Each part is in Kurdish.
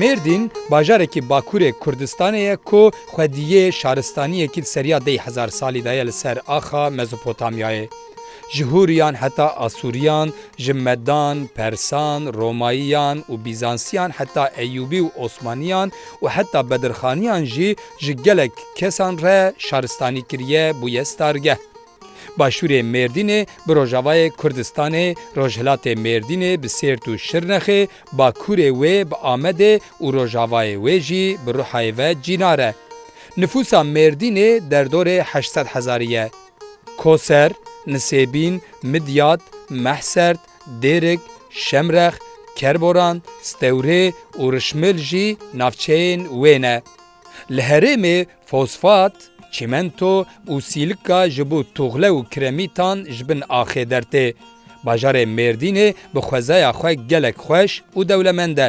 Mêrdîn bajarekî Bakurê Kurdistanê ye ku xwediyê şaristaniyekî li seriya deh hezar salî de ye li ser axa Mezopotamyayê. Ji Hûriyan heta Asûriyan, ji Medan, Persan, Romayiyan û Bîzansiyan heta Eyûbî û Osmaniyan û heta Bedirxaniyan jî ji gelek kesan re şaristanî kiriye bûye stargeh. Başûrê Mêrdînê bi rojavayê Kurdistanê, rojhilatê Mêrdînê bi Sêrt û Şirnexê, bakûrê wê bi Amedê û rojavayê wê jî bi Ruhayê ve cînar e. Nifûsa Mêrdînê derdorê heşt sed hezarî ye. Koser, Nisêbîn, Midyat, Mehsert, Dêrik, Şemrex, Kerboran, Stewrê û Rişmil jî navçeyên wê ne. Li herêmê fosfat, çîmento û sîlika ji bo tuxle û kiremîtan ji bin axê dertê. Bajarê Mêrdînê bi xwezaya xwe gelek xweş û dewlemend e.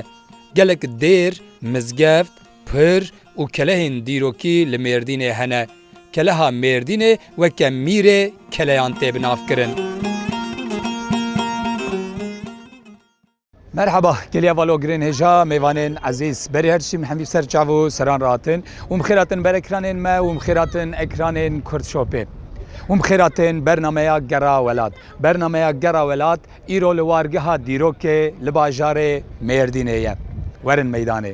Gelek dêr, mizgeft, pir û kelehên dîrokî li Mêrdînê hene. Keleha Mêrdînê weke mîrê keleyan tê binavkirin. Merhaba, geliya va logirên hêja, mêvanên ezîz. Berî her çîm hemî ser çav û seran re hatin. Wî bi xêr hatin ber ekranên me, wî bi xêr hatin ekranên Kurdshopê. Wî bi xêr hatin bernameya Gera Welat. Bernameya Gera Welat îro li wargeha dîrokê li bajarê Mêrdînê ye. Werin meydanê.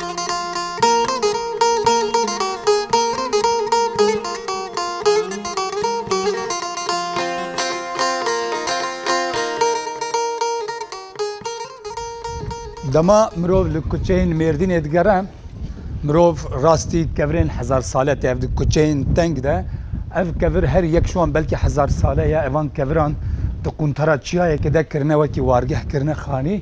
Dema mirov li kuçeyên Mêrdînê digere, mirov rastî kevirên hezar sale tê. Ev di kuçeyên teng de ev kevir her yek şiwan belkî hezar sale ye. Evan keviran di quntara çiyayekê de kirine wekî wargeh kirine xanî.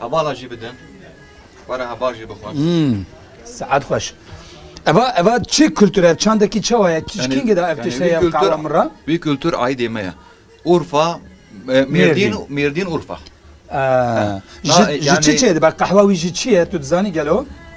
Hevala jî bidin. Were heva jî bixwe. Hmm. Saat xweş. Eva eva çi kültür ev çandekî çawa ye? Kîşkîngê de ev tişte ye qala min re. Vî kültür aîdê me ye. Urfa Mêrdîn Mêrdîn Urfa. Ji çi çê dibe qehwa wî jî çi ye tu dizanî gelo?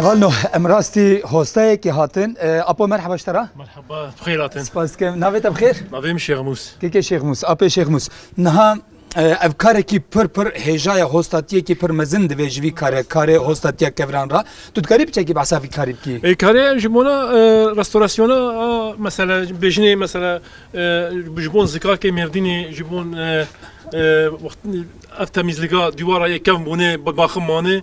Hevalno em rastî hostayekî hatin. E, Apo merheba ji te re. Merhaba, bixêr hatin. Spas dikim. Navê te bi xêr? Navê min Şêxmûs. Kêkê Şêxmûs, apê Şêxmûs. Niha Ev karekî pir pir hêja ye, hostatiyekî pir mezin divê ji vî kare karê hostatiya keviran re. Tu dikarî bi çekî behsa vî karî bikî? Ê karê ji bona restorasyona a mesela bêjinê mesela ji bon zikakê mêrdînê ji bon ev temîzlika dîwara yê kevn bûnê bi baxim manê.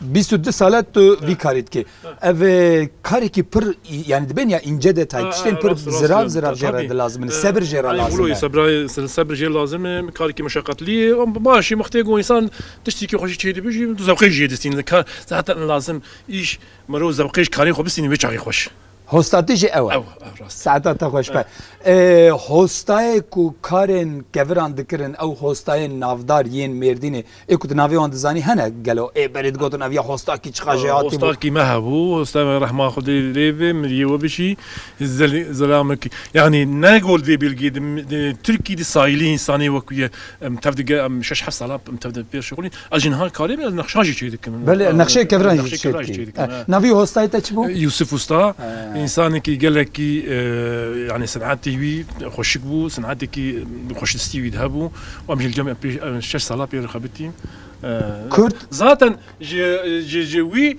Bîst û du sal e tu vî karî dikî. Ev e karekî pir yanî di bêhniya înce de tayî tiştên pir zirav zirav jê re dilazim in. Sebir jê re lazim e. Sebirayê sebir jê lazim e. Karekî meşeqetlî ye. Baş e wextê ku însan tiştekî xwe jî çêdibe jî tu zewqê jî jê distînî. Zehter in lazim îş mirov zewqê ji karê xwe bistînî wê çaxê xweş. Hosta te jî ew e. Saeta te xweş be. Hostayê ku karên keviran dikirin ew hostayên navdar yên Mêrdînê ê ku tu navê wan dizanî hene gelo? Ê berê digotin ev ya hostakî çiqa jêhatî bû. Hostakî me hebû, hosta me rehma Xwedê li rê be, mirîyê we bijî, zelamekî. Yanî ne gol vê bilgê di Tirkî di sayîlî însanê wekî ye. Em tev digel em şeş heft salan em tev de pêşxwîn. Ez jî niha karê min ez nexşan jî çêk dikim. Belê nexşeyê keviran jî çêk dikî. Navî hostayê te çi bû? Yûsif Usta, însanekî gelekî yanî senetî wî xweşik bû, senetekî xweşistî wî di hebû û em jî li gel pêş şeş sala pê re xebitîn. Kurd? Zaten ji wî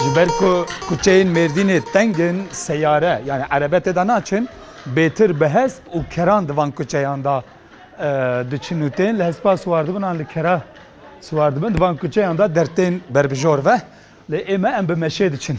Ji ber ku kuçeyên Mêrdînê teng in, seyare yanî erebe tê de naçin. Bêtir bi hesp û keran di van kuçeyan de diçin û tên li hespa siwar dibin an li kera siwar dibin. Di van kuçeyan de der tên berbijor ve. Lê ême em bi meşê diçin.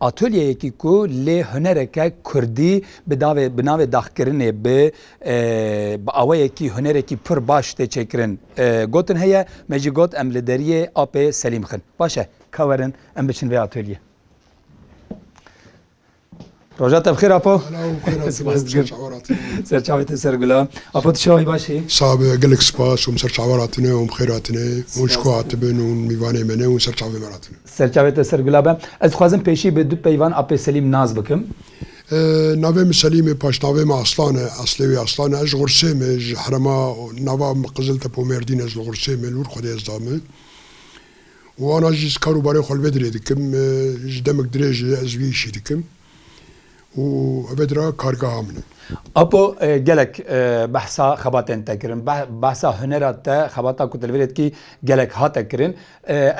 Atolyeyekî ku lê hunereke kurdî bi davê bi navê daxkirinê bi bi aweyekî hunerekî pir baş tê çêkirin gotin heye, me jî got em li deriyê apê Selîm xin. Baş e ka werin em biçin vê atolyê. Roja te bi xêr Apo. Spas dikim. Ser çavê te ser gula. Apo tu çawî baş î? Sağ be, gelek spas. Hûn ser çawa ratine, hûn bi xêr hatine. Hûn ji ku hatibin, hûn mîvanê me ne, hûn ser çavê me ratine. Serçavê te ser gula be. Ez dixwazim pêşî bi du peyvan apê Selîm nas bikim. Navê min Selîm e, paşnavê min Aslan e, eslê wî Aslan e. Ez ji Xirsê me, ji herema nava min Qiziltepe Mêrdîn e, ji li Xirsê me li wir xwedê ez dame. Wana jî ez kar û barên xwe li vê dirê dikim. Ji demik dirêj e ez vî îşî dikim. û ev dira kargeha min e. Apo gelek behsa xebatên te kirin, behsa hunera te, xebata ku tu li vê dikî gelek hate kirin.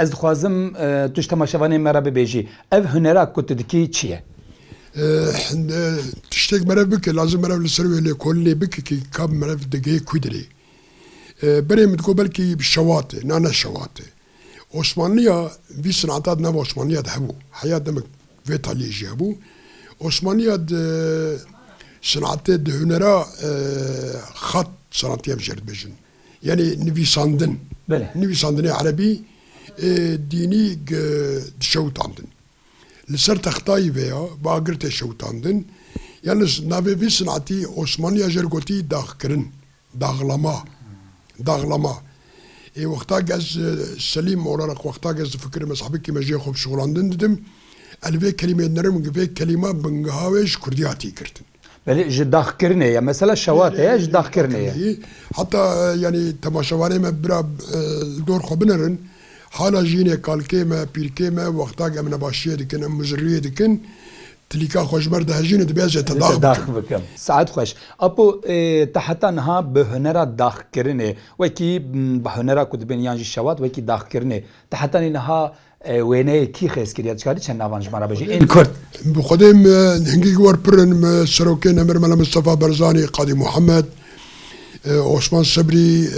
Ez dixwazim tu ji temaşevanên me re bibêjî ev hunera ku tu dikî çi ye? Tiştek merev bike, lazim merev li ser wê lêkolinê bike kî ka merev digehe ku dirê. Berê min digot belkî şewat e, na ne şewat e. Osmanliya vî sinata di nava Osmanliya de hebû. Heya demek. Vê talîyê jî hebû. Osmaniya di senatê, di hunera xat senatî em ji yer dibêjin. Yanî nivîsandin. Belê. Nivîsandinê erebî ê dînî dişewitandin. Li ser textayî veya bagir tê şewitandin. Yan li navê vî senatî Osmaniya jer gotî daxkirin. Daxlama, daxlama. Ê wexta ke ez Selîm olarak wexta ke ez difikirim ez hebikî mejiyê xwe bi şixulandin didim, el vê kelîmeyê dinirim ke vê kelîma bingeha wê ji kurdî hatî girtin. Belê ji daxkirinê ye. Mesela şewat heye ji daxkirinê ye. Heta yanî temaşevanê me bira li dor xwe binerin hala jî hinê kalkê me, pîrkê me wexta ke em nebaşiyê dikin, em muziriyê dikin Tilîka xwe ji ber dihejînê divê ez ê te dax bikim. Saet xweş. Apo te heta niha bi hunera daxkirinê wekî bi hunera ku dibin yan jî şewat wekî daxkirinê te heta nî niha wêneyê kî xêz kiriye? Dikarî çend navan ji me re bijî ên kurd? Bi xwedê em hingî wer pir in. Serokên Emir Mele Mistefa Barzanî, Qadî Muhemed, Osman Sebrî,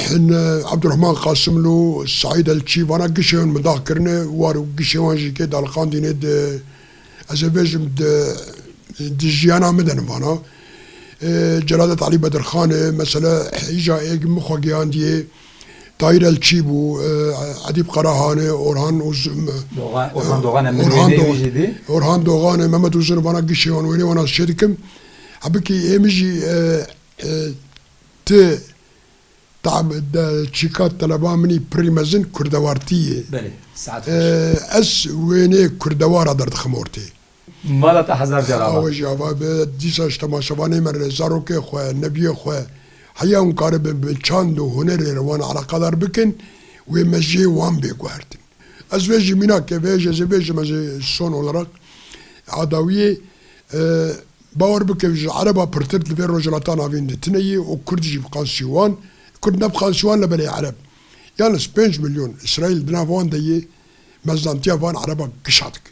Hin Abdurehman Qasimlu, Seîd Elçî vana gişê hin mindax kirine war û gişê wan jî kê daliqandîne di ez ê vêjim di di jiyana min de ne vana. Celadet Elî Bedirxanê mesela hêja êg min xwe geyandiyê Tahîr Elçî bû, Edîb Qarahanê, Orhan Orhan Doxanê min wêneyê wî jî dî. Orhan Doxanê, Mehmet Uzunê vana gişê wan wêneyê wan ez çêdikim. Hebikî ê min jî Ti tam çîka teleba min î pirrî mezin kurdewartî yê. Belê, saet xweş. Ez wênê kurdewara derdixim ortê. Mala te hezar car ava. Awe jî ava be, dîsa ji temaşevanê me re zarokê xwe, nebiyê xwe heya hûn karibin bi çand û hunerê re wan eleqedar bikin wê me jê wan bê guhertin. Ez vê jî mînak ke vê jê zê vê jê me zê son oleraq adawiyê. Bawer bike ji ereba pirtir di vê rojhilata navîn de tine yê û kurd jî bi qan sîwan, kurd ne bi qan sîwan le belê ereb yan ez pênc milyon îsraîl di nav wan de yê, mezdantiya van ereba kişa dike.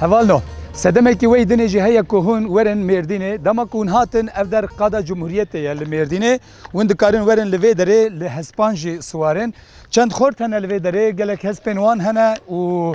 Heval no. Sedemekî wey dinê jî heye ku hûn werin Mêrdînê. Dema ku hûn hatin ev der qada Cumhuriyetê ye li Mêrdînê. Hûn dikarin werin li vê derê li hespan jî siwarin. Çend xort hene li vê derê, gelek hespên wan hene û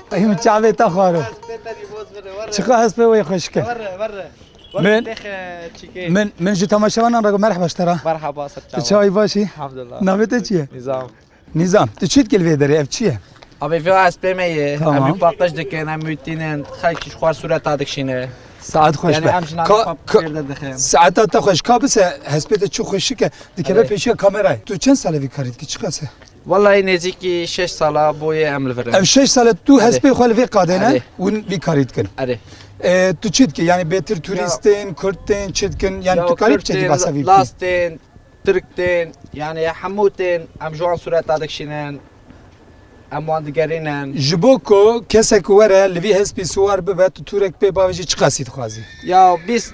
Ew çavê te xwaro. Çiqa hespê wê xweş ke. Min min min ji temaşevanan re merhaba ji te re. Merhaba ser çawa. Çavê başî. Elhamdülillah. Navê te çi ye? Nizam. Nizam. Tu çi dikil vê derê ev çi ye? Abi vê hespê me ye. Tamam. Em röportaj dikin, em wîtînin, xelk ji xwar sureta dikişîne. Saet xweş Yani be. em jinan Ka- xwe ka- pêrde dixin. Saeta te xweş ka bise hespê te çi xweşik e dikeve Alê. pêşiya kamerayê. Tu çend sale vî karî dikî çiqas e? Wellahî nêzîkî şeş sala bûye em li vir in. Ev şeş sal e tu hespê xwe li vê qadê ne hûn vî karî dikin. Erê. Tu çi dikî yanî bêtir turîstên kurtên çi dikin yanî tu karî biçekî behsa vî lastên tirktên yanî hemû tên em ji wan sureta dikişînin em wan digerînin. Ji bo ku kesek were li vî hespî siwar bibe tu turek pê bavê jî çi qasî dixwazî? Ya bîst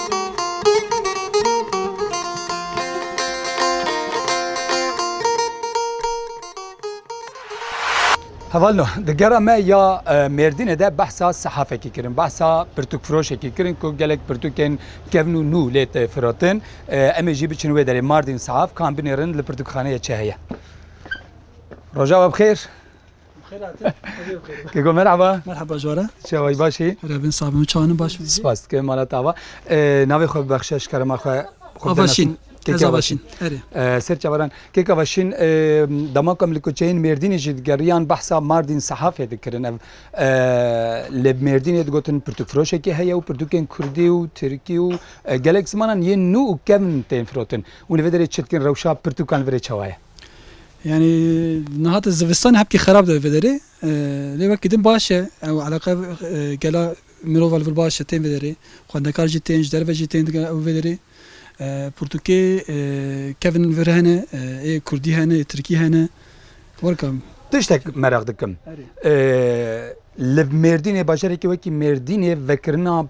Hevalno di gera me ya Mêrdînê de behsa sehafekî kirin, behsa pirtûkfiroşekî kirin ku gelek pirtûkên kevn û nû lê tê firotin. Em ê jî biçin wê derê Mardîn sehaf kan binêrin li pirtûkxaneyê çi heye. Roja we bi xêr. Keko merhaba. Merhaba Jwara. Çawa baş î? Revin sabim çawanî baş bî. Spas dike mala tava. Navê xwe bibexşe ji kerema xwe. Avaşîn. Keke Avaşîn. Erê. Ser çawaran. Keke Avaşîn dema ku em li kuçeyên Mêrdînê jî digeriyan behsa Mardin Sehafê dikirin ev li Mêrdînê digotin pirtûkfiroşekî heye û pirtûkên kurdî û tirkî û gelek zimanan yên nû û kevn tên firotin. Hûn li vê derê çi dikin rewşa pirtûkan li vê derê çawa ye? Yanî niha di zivistanê hepkî xerab dibe vê derê. Lê wekî din baş e. Ew eleqe gela mirova li vir baş e tên vê derê. Xwendekar jî tên, ji derve jî tên digere ew vê derê. Pirtûkê kevin vir hene, ê kurdî hene, ê tirkî hene. Werka min. Tiştek meraq dikim. Li Mêrdînê bajarekî wekî Mêrdînê vekirina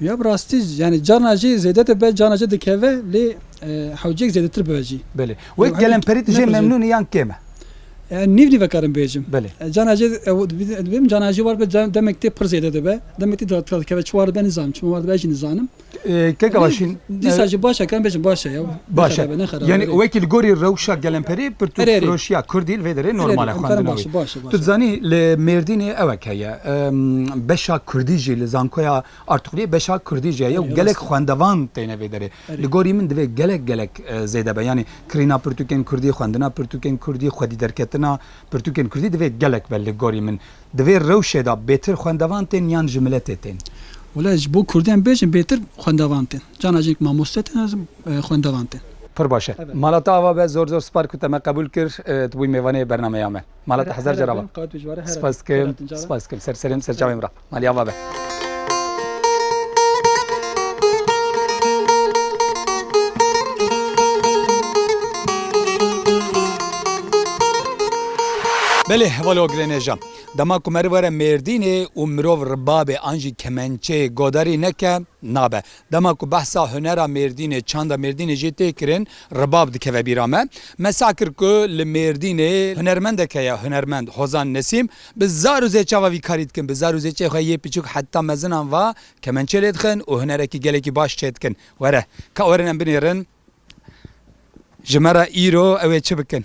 Ya bi rastî yanî carna jî zêde dibe carna jî dikeve lê hewcêk zêdetir bibe jî. Belê. Wek gelemperî tu jê memnûn î yan kêm e? Nîv nîve karim bêjim. Belê. Carna jî dibêjim carna jî war be demek tê pir zêde dibe. Demek tê dikare dikeve çi war dibe nizanim çima war dibe jî nizanim. Keke başîn. Dîsa jî baş e karim bêjim baş e ya. Baş e. Yanî wekî li gorî rewşa gelemperî pirtûkfiroşiya kurdî li vê derê normal e xwendina wî. Tu dizanî li Mêrdînê ew ek heye. Beşa kurdî jî li Zankoya Artuxliyê beşa kurdî jî heye û gelek xwendevan têne vê derê. Li gorî min divê gelek gelek zêde be. Yanî kirîna pirtûkên kurdî, xwendina pirtûkên kurdî, xwedîderketina pirtûkên kurdî divê gelek be li gorî min. Divê rewşê de bêtir xwendevan tên yan ji miletê tên? Wela ji bo kurdiyan bêjin bêtir xwendevan tên. Cana jî mamoste têne. xwendevan te. Pir baş e. Mala te ava be. Zor zor sipar ku te me qebûl kir. Tu bûyî mêvanê bernameya me. Mala te hezar car ava. Spas dikim. Spas dikim. Ser serê min, ser çavê min re. Malê ava be. Belê hevalê wa girêne ja. Dema ku meriv were Mêrdînê û mirov ribabê an jî kemençeyê godarî neke, nabe. Dema ku behsa hunera Mêrdînê, çanda Mêrdînê jê tê kirin, Ribab dikeve bîra me. Me sah kir ku li Mêrdînê hunermendek heye, hunermend Hozan Nesîm. Bi zar û zê çava vî karî dikin, bi zar û zê çê xwe yê piçûk heta mezinan va kemençê lê dixin û hunerekî gelekî baş çê dikin. Were, ka werin em binêrin ji me re îro ew ê çi bikin?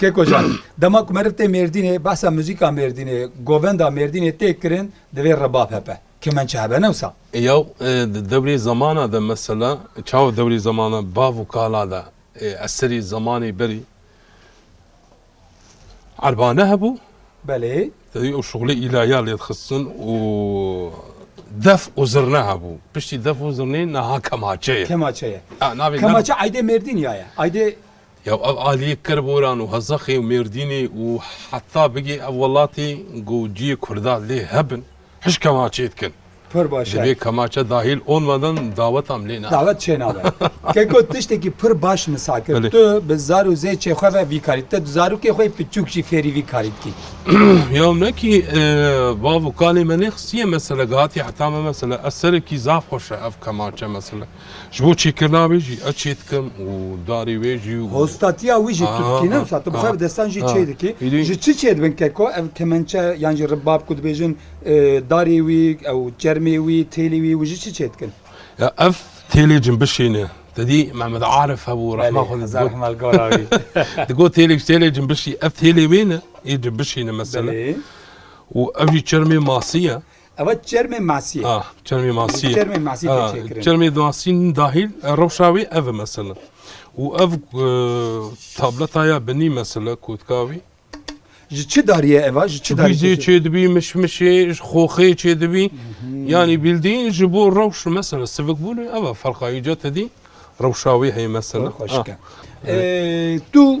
Kêkojan, dema ku meriv tê Mêrdînê behsa muzîka Mêrdînê, govenda Mêrdînê tê kirin divê rebab hebe, kemençe hebe ne wisa? Ya di dewrê zemana de mesela çawa dewrê zemana bav û kala de eserê zemanê berî erba ne hebû? Belê. Tevî ew şixulê îlaya lê dixistin û def û zirne hebû. Piştî def û zirnê niha kemaçe ye. Kemaçe ye. Kemaçe eydê Mêrdîn ya ye. Eydê Yew ev aliyê Kerboran û Hezexê û Mêrdînê û heta bigê ev welatê ku ciyê Kurda lê hebin, hiş kemaçê dikin. Pir baş e. Divê kemaçe dahîl olmedin dawetam lê nabin. Dawet çê nabin. Keko tistekî pir baş misa kir. Tu bi zar û zêçê xwe ve vî karî dike. Tu zarokê xwe yê piçûk jî fêrî vî karî dikî. Yew ne kî bav û kalê me nêxistiye mesele, gihatiye heta me mesele. Ez serekî zaf xweş e ev kemaçe mesele. Ji bo çêkirina wê jî ez çê dikim û darê wê jî û. Hostatiya wî jî tu dikî ne wisa tu bi xwe bi destan jî çê dikî. Ji çi çê dibin keko ev kemençe yan jî ribab ku dibêjin darê wî ew çermê wî têlê wî û ji çi çê dikin? Ya ev têlê cimbişê ne. Te dî Mehmet Arif hebû rehma xwe lê digot. Digot têlê têlê cimbişî ev têlê wê ne ê cimbişê ne mesele û ev jî çermê masî ye. Ew e çermê masî ye. Ah, çermê masî ye. Çermê masî tê Ah, çêkirin. Çermê masî dahîl e, rewşa wî ev e mesela. Û ev e, tableta ya binî mesela kotka wî. Ji çi dariye ev a? Ji çi darî? Bîzê çêdibî, mişmişê, ji xoxê çêdibî. Yanî bîldîn ji bo rewş mesela sivikbûnê ev e. Ferqa îca te dî rewşa wê heye mesela. Xweşik e. Ah. Ee, Tu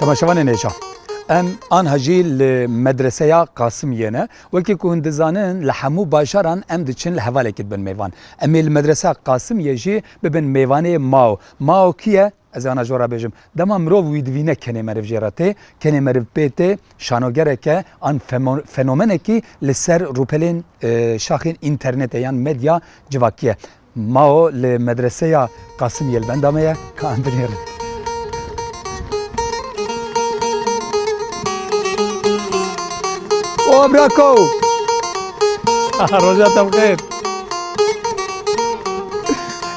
Temaşevanê nêşan. Em anha jî li medreseya Qasimiyê ne. Wekî ku hûn dizanin li hemû bajaran em diçin li hevalekî dibin mêvan. Em ê li medreseya Qasimiyê jî bibin mêvanê mao. Mao kî ye? Ez ê ana jora bêjim. Dema mirov wî dibîne kenê meriv jê re tê, kenê meriv pê tê, şanogerek e an fenomenekî li ser rûpelên şaxên înternetê yan medya civakî ye. Mao li Medreseya Qasim Yelbenda me ye ka em binêrin. O brako! Roja te bi xêr.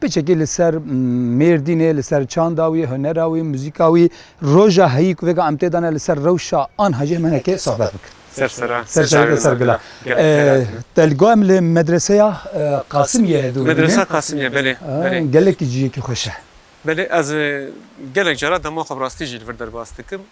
Piçekî li ser Mêrdînê, li ser çanda wî, hunera wî, muzîka wî, roja heyî ku vêga em tê dane li ser rewşa an hajê Menekê sohbet bikin. Ser ser a. Ser ser ser gila. Te li gor em li medreseya Qasimiyê hevdû bûne. Medresa Qasimiyê belê. Gelekî ciyekî xweş e. Belê ez gelek cara dema xwe bi rastî jî li vir derbas dikim.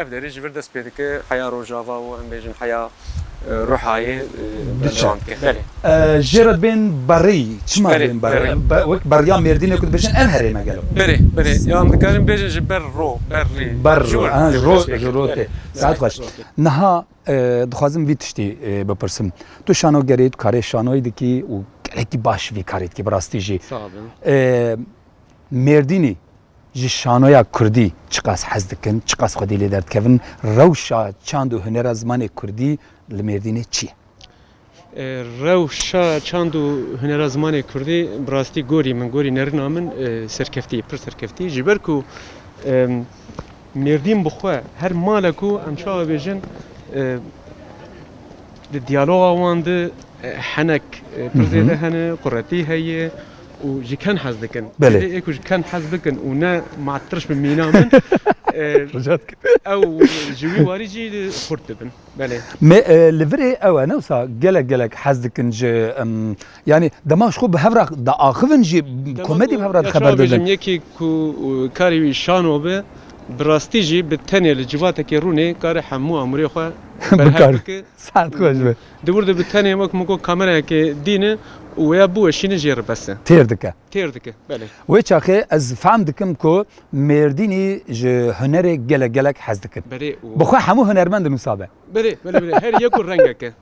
Ev derî ji vir dest pê dike heya rojava û em bêjin heya ruhayê diçe. Jê re bên berê çima bên berê? Wek beriya mêrdînê ku dibêjin ev herême gelo. Berê, berê ya em dikarin bêjin ji ber ro, ber rê. Ber ro, ro ji ro tê. Saet xweş. Niha dixwazim vî tiştî bipirsim. Tu şanoger î, tu karê şanoyî dikî û gelekî baş vî karî dikî bi rastî jî. Mêrdînî. ji şanoya kurdî çiqas hez dikin, çiqas xwedî lê derdikevin, rewşa çand û hunera zimanê kurdî li Mêrdînê çi ye? Rewşa çand û hunera zimanê kurdî bi rastî gorî min, gorî nerina min serkeftî ye, pir serkeftî ye. Ji ber ku Mêrdîn bi xwe her male ku em çawa bêjin di diyaloga wan de henek pir zêde hene, quretî heye, û ji ken hez dikin. Belê. Ê ku ji ken hez bikin û ne ma tirş bi mîna min Rica dikim. ew ji wî warî jî xurt dibin. Belê. Me li virê ew e ne wisa gelek gelek hez dikin ji em yanî dema ji xwe bi hev re diaxivin jî komedî bi hev re Ya dixeber çawa didin. bêjim yekî ku karê wî şano be bi rastî jî bi tenê li civatekê rûnê kare hemû amûrê xwe berhev Bikar. bike Sihet xweş be. Di wir de bi tenê wek min got kamerayekê dînin û wêya biweşînin jê re bes e. Têr dike. Têr dike, belê. Wê çaxê ez fehm dikim ku Mêrdînî ji hunerê gelek gelek hez dikin. Belê û. Bi xwe hemû hunermend din wisa be. Belê, belê, belê. Her yek û rengek e.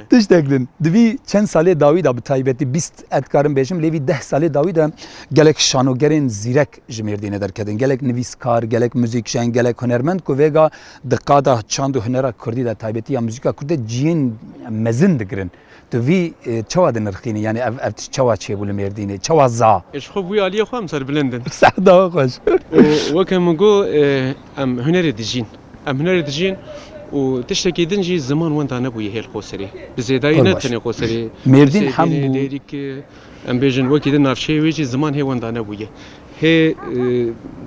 Tiştek din. Di vî çend salê dawî de bi taybetî bîst ez dikarim bêjim lê vî deh salê dawî de gelek şanogerên zîrek ji Mêrdînê derketin. Gelek nivîskar, gelek muzîkjen, gelek hunermend ku vêga di qada çand û hunera kurdî de taybetî ya muzîka kurd de ciyên mezin digirin. Tu vî çawa dinirxînî? Yanî ev ev tişt çawa çêbû li Mêrdînê? Çawa za? Ji xwe bûye aliyê xwe em serbilind in. Sehda xweş. Û weke min got em hunerê dijîn. Em hunerê dijîn û tiştekî din jî ziman wenda nebûye hêl qoserî. Bi zêdayî ne tenê qoserî. Mêrdîn hem bû. Em bêjin wekî di navçeyê wê jî ziman hê wenda nebûye. Hê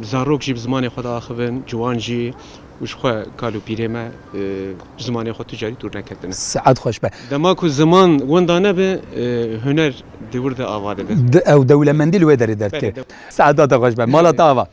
zarok jî bi zimanê xwe de axivin, ciwan jî û ji xwe kal û pîrê me ji zimanê xwe tu carî dûr neketine. Saet xweş be. Dema ku ziman wenda nebe huner di wir de ava dibe. Di ew dewlemendî li wê derê dertê. Saet data xweş be. Mala te ava.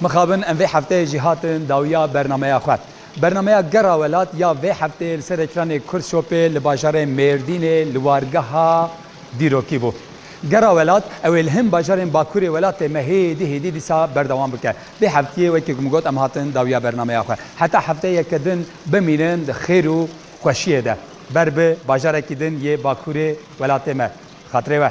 Mixabin em vê hefteyê jî hatin dawiya bernameya xwe. Bernameya Gera Welat ya vê hefteyê li ser ekranê Kurtshopê li bajarê Mêrdînê li wargeha dîrokî bû. Gera Welat ew ê li hin bajarên bakurê welatê me hêdî hêdî dîsa berdewam bike. Vê heftiyê wekî ku min got em hatin dawiya bernameya xwe. Heta hefteyeke din bimînin di xêr û xweşiyê de. Ber bi bajarekî din yê bakurê welatê me. Xatirê we.